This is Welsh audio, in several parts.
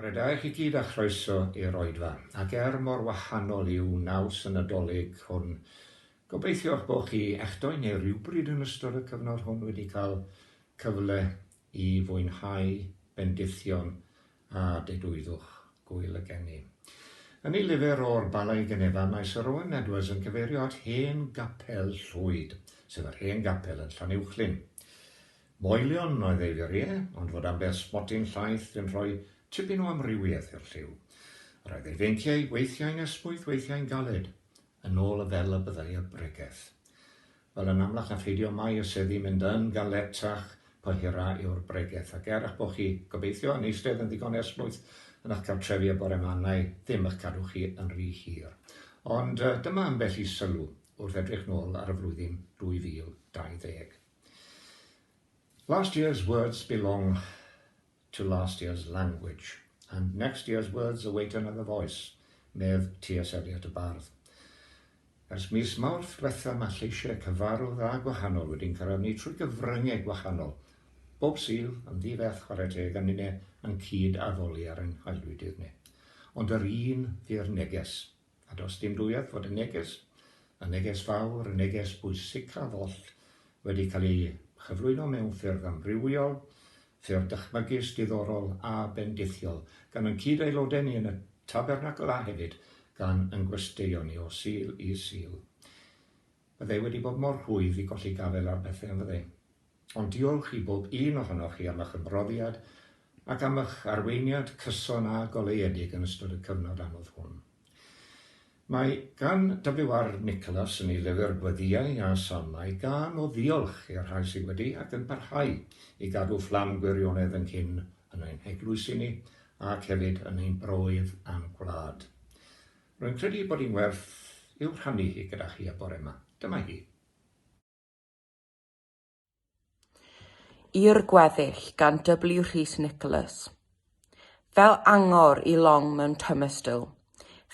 Bore da i chi gyd a chroeso i'r Oedfa. Ac er mor wahanol yw naws y Nadolig hwn, gobeithio eich bod chi, a'ch dou neu rywbryd yn ystod y cyfnod hwn wedi cael cyfle i fwynhau bendithion a dedwyddwch gŵyl y geni. Yn ei lyfr O'r Bala i Genefa, mae Sir Owen Edwards yn cyfeirio at hen gapel Llwyd, sef yr hen gapel yn Llanuwchllyn. Moelion oedd ei fur ie, ond fod ambell sbotyn llaith yn rhoi tipyn o amrywiaeth i'r lliw. Yr oedd ei feinciau weithiau'n esmwyth, weithiau'n galed, yn ôl y fel y byddai y bregeth. Wel, yn amlach na pheidio mae y seddi mynd yn galetach po hira yw'r bregeth, ac er a'ch bo chi, gobeithio, yn eistedd yn ddigon esmwyth yn a'ch cartrefi y bore ma nai ddim ych cadw chi yn rhy hir. Ond dyma ambell i sylw wrth edrych nôl ar y flwyddyn 2020. Last year's words belong to last year's language, and next year's words await another voice, medd TS Eliot y bardd. Ers mis Mawrth dwetha mae lleisiau cyfarw dda gwahanol wedi'n carafnu trwy gyfryngau gwahanol, bob Sul yn ddi-feth chwarae teg a ninne yn cyd-addoli ar ein haelwydydd ni. Ond yr un ddi'r neges. A does dim dwywaith fod y neges, y neges fawr, y neges bwysicaf oll, wedi cael ei chyflwyno mewn ffyrdd amrywiol, ffyrdd dychmygus, diddorol a bendithiol, gan yn cyd-aelodau ni yn y Tabernacl a hefyd gan yn gwesteion ni o Sul i Sul. Byddai wedi bod mor rhwydd i golli gafael ar bethau, yn fyddai? Ond diolch i bob un ohonoch chi am eich ymroddiad ac am eich arweiniad cyson a goleuedig yn ystod y cyfnod anodd hwn. Mae gan WR Nicholas yn ei lyfr Gweddïau a Salmau gân o ddiolch i'r rhai sydd wedi ac yn parhau i gadw fflam gwirionedd ynghyn yn ein heglwysi ni ac hefyd yn ein broydd a'n gwlad. Rwy'n credu ei bod hi'n werth i'w rhannu hi gyda chi y bore yma. Dyma hi. I'r gweddill gan W Rhys Nicholas. Fel angor i long mewn tymestl,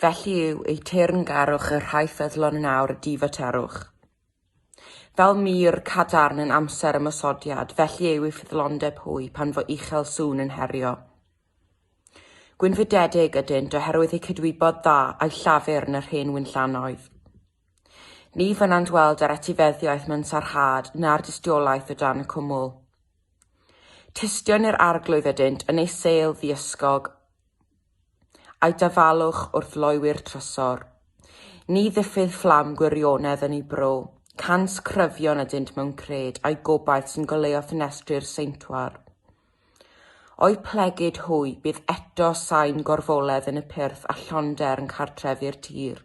felly yw eu teyrngarwch y rhai ffyddlon yn awr y difaterwch. Fel mur cadarn yn amser ymosodiad, felly yw eu ffyddlondeb hwy pan fo uchel sŵn yn herio. Gwynfydedig ydynt oherwydd eu cydwybod dda a'u llafur yn yr hen wynllanoedd. Ni fynnant weld yr etifeddiaeth mewn sarhad na'r dystiolaeth o dan y cwmwl. Tystion i'r arglwydd ydynt yn ei sêl ddiysgog, a'i dafalwch wrth loewi'r trysor. Ni ddiffydd fflam gwirionedd yn ei bro, cant cryfion ydynt mewn cred a'i gobaith sy'n goleuo ffenestri'r seintwar. O'i plegid hwy, bydd eto sain gorfoledd yn y pyrth a llonder yn cartref i'r tir.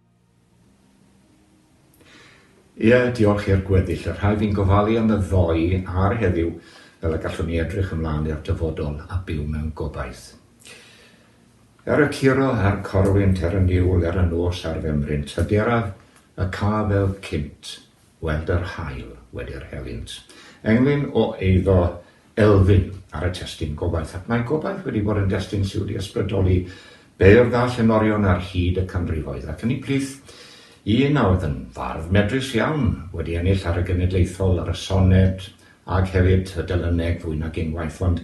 Ie, diolch i'r gweddill, y rhaid i'n gofalu am y ddoe a'r heddiw fel y gallwn ni edrych ymlaen i'r dyfodol a byw mewn gobaith. Er y curo a'r corwynt, er y niwl, er y nos a'r femryn, tydi'r af y ca fel cynt. Gweld yr haul wedi'r helynt. Englyn o eiddo Elfyn ar y testun Gobaith, ac mae Gobaith wedi bod yn destun sydd wedi ysbrydoli beirdd a llenorion ar hyd y canrifoedd, ac yn ei plith, un a oedd yn fardd medrus iawn, wedi ennill ar y genedlaethol, ar y soned, Ac hefyd, y Delyneg, fwy nag unwaith, ond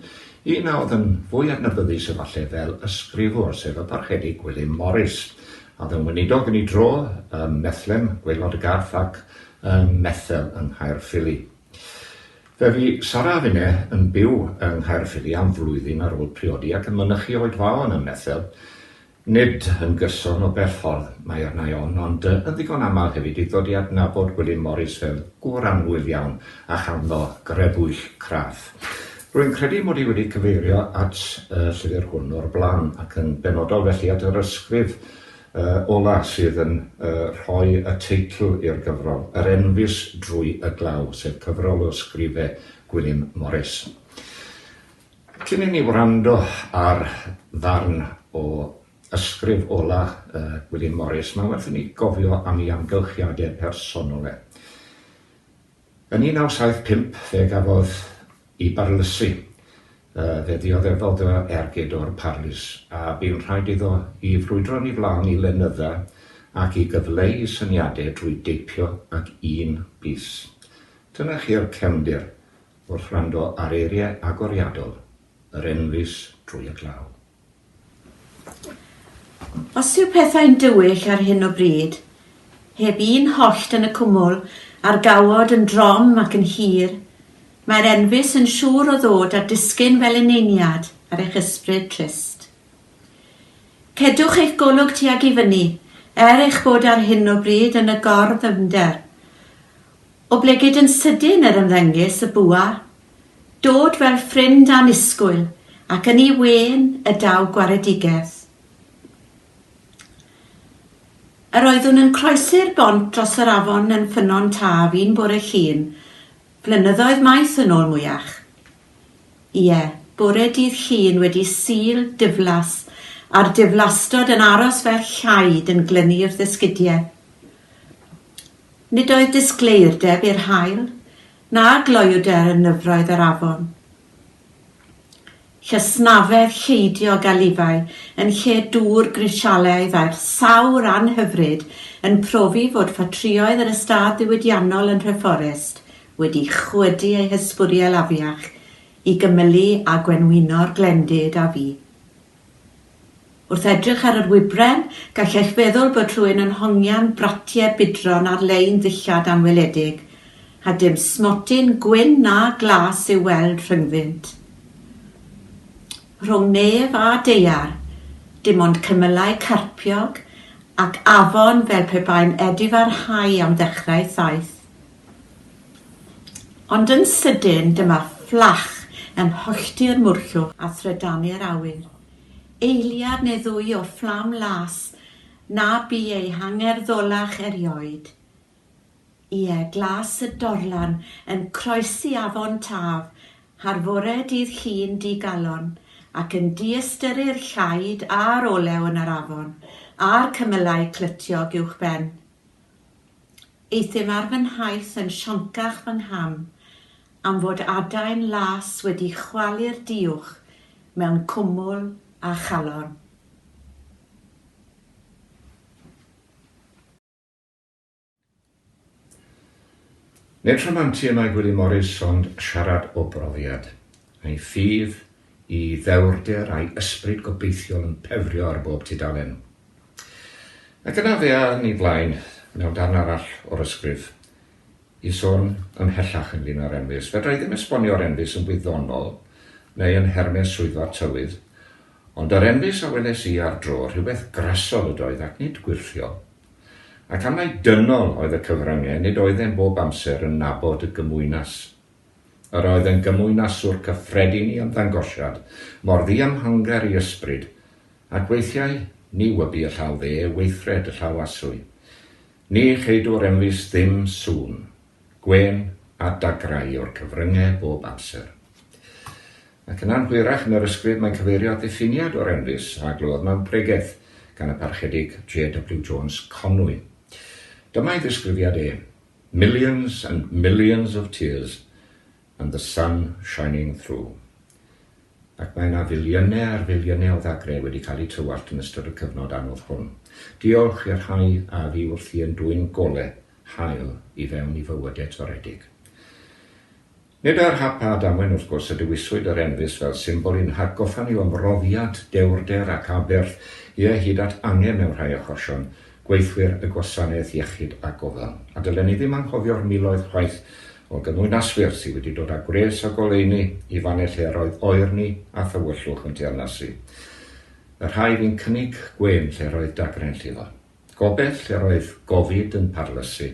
un a oedd yn fwy adnabyddus efallai fel ysgrifwr, sef y Parchedig Gwilym Morris, a oedd yn weinidog yn ei dro ym Methlem, Gwaelod y Garth, ac ym Methel yng Nghaerffili. Fe fu Sara a finne yn byw yng Nghaerffili am flwyddyn ar ôl priodi ac yn mynychu Oed Faon ym Methel. Nid yn gyson o bell ffordd mae arna i ofn, ond yn ddigon aml hefyd i ddod i adnabod Gwilym Morris fel gŵr annwyl iawn a chanddo grebwyll craff. Rwy'n credu mod i wedi cyfeirio at y llyfr hwn o'r blaen, ac yn benodol felly at yr ysgrif ola' sydd yn rhoi y teitl i'r gyfrol, Yr Enfys Drwy y Glaw, sef cyfrol o ysgrife Gwilym Morris. Cyn i ni wrando ar ddarn o ysgrif ola Gwilym Morris, mae werth i ni gofio am ei amgylchiadau personol e. Yn 1975 fe gafodd i barylysu, fe ddioddefodd o ergyd o'r parlys, a bu'n rhaid iddo i frwydro'n ei flaen i lenydda ac i gyfleu ei syniadau drwy deipio ag un bys. Dyna chi'r cefndir Wrth wrando ar eiriau agoriadol yr enfys drwy y glaw. Os yw pethau'n dywyll ar hyn o bryd, heb un hollt yn y cwmwl, a'r gawod yn drom ac yn hir, mae'r enfys yn siŵr o ddod a disgyn fel eneiniad ar eich ysbryd trist. Cedwch eich golwg tuag i fyny, er eich bod ar hyn o bryd yn y gor-ddyfnder. Oblegid yn sydyn yr ymddengys y bwa, dod fel ffrind annisgwyl ac yn ei wên y daw gwaredigeth. Yr oeddwn yn croesi'r bont dros yr afon yn Ffynnon Taf un bore Llun, flynyddoedd maith yn ôl mwyach. Ie, bore dydd Llun wedi Sul diflas a'r diflastod yn aros fel llaid yn glynu'r ddesgidiau. Nid oedd disgleirdeb i'r haul, na gloewder yn nyfroedd yr afon. Llysnafedd lleidio o galifau yn lle dŵr grisialaidd a'r sawr anhyfryd yn profi fod ffatrïoedd yr ystâd ddiwydiannol yn Nhreforest wedi chwydu eu hysbwriel afiach i gymylu â gwenwyno'r glendid a fu. Wrth edrych ar yr wybren, gall eich feddwl bod rhywun yn hongian bratie budron ar-lein ddillad anweledig, a dim smotyn gwyn na glas i'w weld rhyngddynt. Rhwng nef a daear, dim ond cymylau carpiog ac afon fel pe bai'n edifarhau am ddechrau thaith Ond yn sydyn dyma fflach yn hollti'r mwrllwch a thrydanu'r awyr. Eiliad neu ddwy o fflam las na bu eu hangerddolach erioed. Ie, glas y dorlan yn croesi afon Taf har fore dydd Llun digalon ac yn diystyru'r llaid a'r olew yn yr afon a'r cymylau clytiog uwchben. Euthum ar fy nhaith yn sioncach fy ngham am fod adain las wedi chwalu'r diwch mewn cwmwl a chalon. Nid rhamantu y mae Gwilym Morys ond siarad o brofiad. Mae ffydd i ddewrder a'i ysbryd gobeithiol yn pefrio ar bob tudalen. Ac yna fe awn ni flaen, mewn darn arall o'r ysgrif, i sôn ymhellach ynglŷn â'r enfys. Fedra i ddim esbonio'r enfys yn wyddonol neu yn nhermau swyddfa'r tywydd, ond yr enfys a weles i ar dro, rhywbeth grasol ydoedd ac nid gwyrthiol. Ac am mai dynol oedd y cyfryngau, nid oeddem bob amser yn nabod y gymwynas Yr oedd yn gymwynaswr cyffredin i ymddangosiad mor ddiymhangder i ysbryd, ac weithiau ni wybu y llaw dde weithred y llaw aswy. Ni cheidwr emlys ddim sŵn, gwên, a dagrau o'r cyfrynge bob amser. Ac yn anhwyrach yn yr ysgrif mae'n cyfeirio at ddiffiniad o'r emlys a glywodd mewn pregeth gan y Parchedig JW Jones Conwy. Dyma'i ddisgrifiad e. Millions and millions of tears and the sun shining through. Ac mae yna filiynau ar filiynau o ddagrau wedi cael eu tywallt yn ystod y cyfnod anodd hwn. Diolch i'r rhai a fu wrthi yn dwyn golau haul i fewn i fywydau toredig. Nid ar hap a damwain wrth gwrs y dewiswyd yr enfys fel symbol i'n hatgoffa ni o'm mhrofiad dewrder ac aberth, ie, hyd at angen mewn rhai achosion, gweithwyr y gwasanaeth iechyd a gofal. A dylen ni ddim anghofio'r miloedd chwaith o gymwynaswyr sydd wedi dod â gwres a goleuni i fannau lle yr oedd oer ni a thywyllwch yn teyrnasu. Y rhai fu'n cynnig gwên lle yr oedd dagrau'n llifo. Gobeith lle roedd gofid yn parlysu,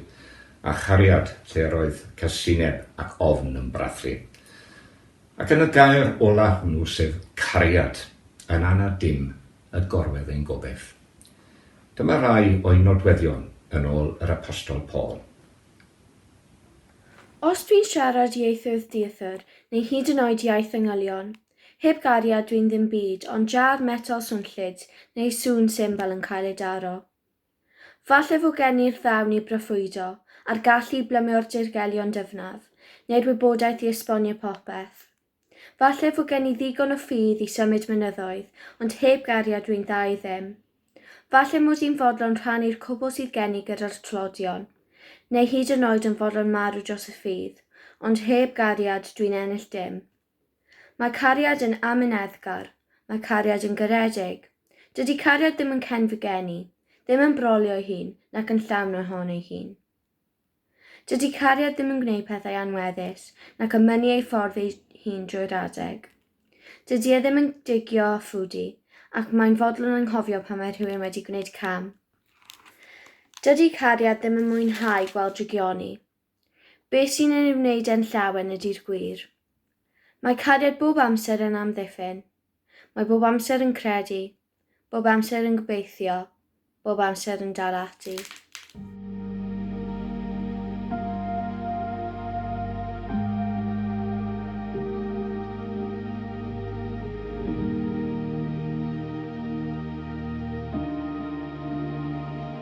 a chariad lle roedd casineb ac ofn yn brathu. Ac yn y gair ola hwnnw, sef cariad, yn anad dim y gorwedd ein gobeith. Dyma rai o'i nodweddion yn ôl yr Apostol Paul. Os dwi'n siarad ieithoedd dieithr, neu hyd yn oed iaith yngylion, Heb gariad dwi'n ddim byd ond jar metel swnllyd neu sŵn symbal yn cael ei daro. Falle fo gen i'r ddawn i broffwydo, a'r gallu i blymio'r dirgelion dyfnaf, neu'r wybodaeth i esbonio popeth. Falle fo gen i ddigon o ffydd i symud mynyddoedd, ond heb gariad dwi'n dda i ddim. Falle mod i'n fodlon rhannu'r cwbl sydd gen i gyda'r tlodion, neu hyd yn oed yn fodlon marw dros y ffydd, ond heb gariad dwi'n ennill dim. Mae cariad yn amyneddgar. Mae cariad yn garedig. Dydy cariad ddim yn cen fy gen i, ddim yn brolio ei hun, nac yn llawn ohon ei hun. Dydy cariad ddim yn gwneud pethau anweddus, nac yn mynnu ei ffordd ei hun drwy'r adeg. Dydy e ddim yn digio a ffwdu, ac mae'n fodlon anghofio pan mae rhywun wedi gwneud cam. Dydy cariad ddim yn mwynhau gweld drygioni. Be sy'n ei wneud e'n llawen ydi'r gwir. Mae cariad bob amser yn amddiffyn. Mae bob amser yn credu, bob amser yn gobeithio, bob amser yn dal ati.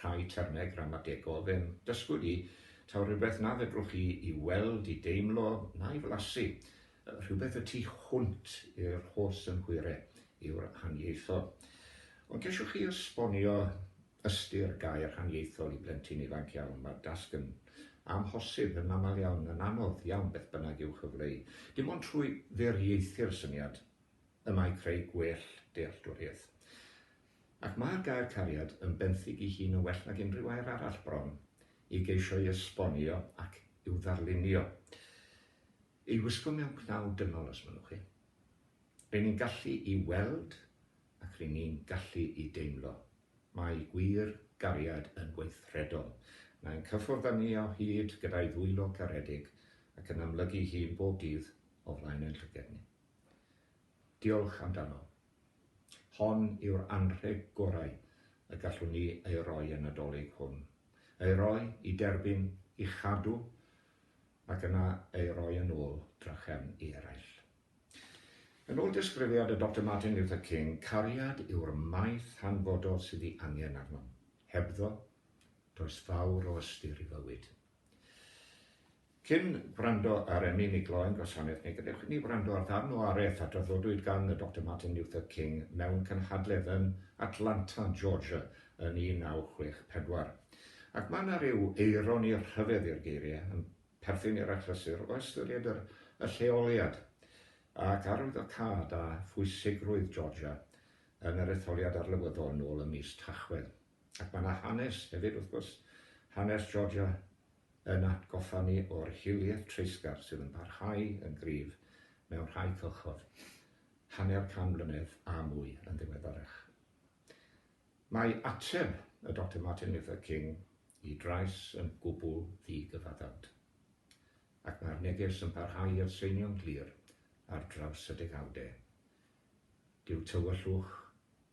rhai termau gramategol fe'n dysgwyd i, taw rhywbeth na fedrwch chi i weld, i deimlo, na'i flasu, rhywbeth y tu hwnt i'r holl synhwyre, yw'r haniaethol. Ond ceisiwch chi esbonio ystyr gair haniaethol i blentyn ifanc iawn, mae'r dasg yn amhosib, yn aml iawn, yn anodd iawn beth bynnag i'w chyfleu. Dim ond trwy ddiriaethu'r syniad y mae creu gwell dealltwriaeth. Ac mae'r gair cariad yn benthyg i hun yn well nag unrhyw air arall bron i geisio'i esbonio ac i'w ddarlunio. Ei wisgo mewn cnau dynol, os mynnwch chi. Ry'n ni'n gallu i weld ac ry'n ni'n gallu i deimlo. Mae gwir gariad yn weithredol. Mae'n cyffwrdd â ni o hyd gyda'i ddwylo caredig ac yn amlygu'i hun bob dydd o flaen ein llyged ni. Diolch amdano. Hon yw'r anrheg gorau y gallwn ni ei roi y Nadolig hwn. Ei roi, i derbyn, i chadw, ac yna ei roi yn ôl drachefn i eraill. Yn ôl disgrifiad y Doctor Martin Luther King, cariad yw'r maeth hanfodol sydd ei angen arnom. Hebddo, does fawr o ystyr i fywyd. Cyn wrando ar Emmy mi gloi yn gwasanaeth neu gadewch i ni wrando ar ddarn o araith a draddodwyd gan y Doctor Martin Luther King mewn cynhadledd yn Atlanta, Georgia yn 1964. Ac mae yna ryw eironi rhyfedd i'r geiriau, yn perthyn i'r achlysur o ystyried yr y lleoliad ac arwyddocâd a phwysigrwydd Georgia yn yr etholiad arlywyddol nôl ym mis Tachwedd. Ac mae 'na hanes hefyd wrth gwrs, hanes Georgia yn atgoffa ni o'r hiliaeth treisgar sydd yn parhau yn gryf mewn rhai cylchoedd, hanner can mlynedd a mwy yn ddiweddarach. Mae ateb y Doctor Martin Luther King i drais yn gwbl ddi-gyfaddawd. Ac mae'r neges yn parhau i atseinio'n glir ar draws y degawdau. Dyw tywyllwch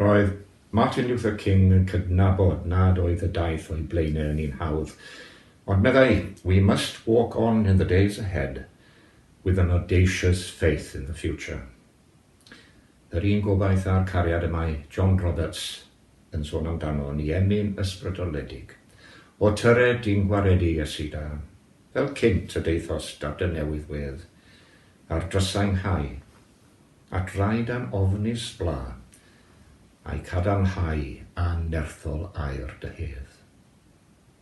Roedd Martin Luther King yn cydnabod nad oedd y daith o'i blaenau yn un hawdd, ond meddai, We must walk on in the days ahead with an audacious faith in the future. Yr un gobaith a'r cariad y mae John Roberts yn sôn amdano ni emyn ysbrydoledig. O tyred di'n gwaredu, Iesu da, fel cynt y daethos da dy newydd wedd, a'r drysau 'nghau, at raid a'n ofnus bla, a'i cadarnhau a'n nerthol air dy hedd.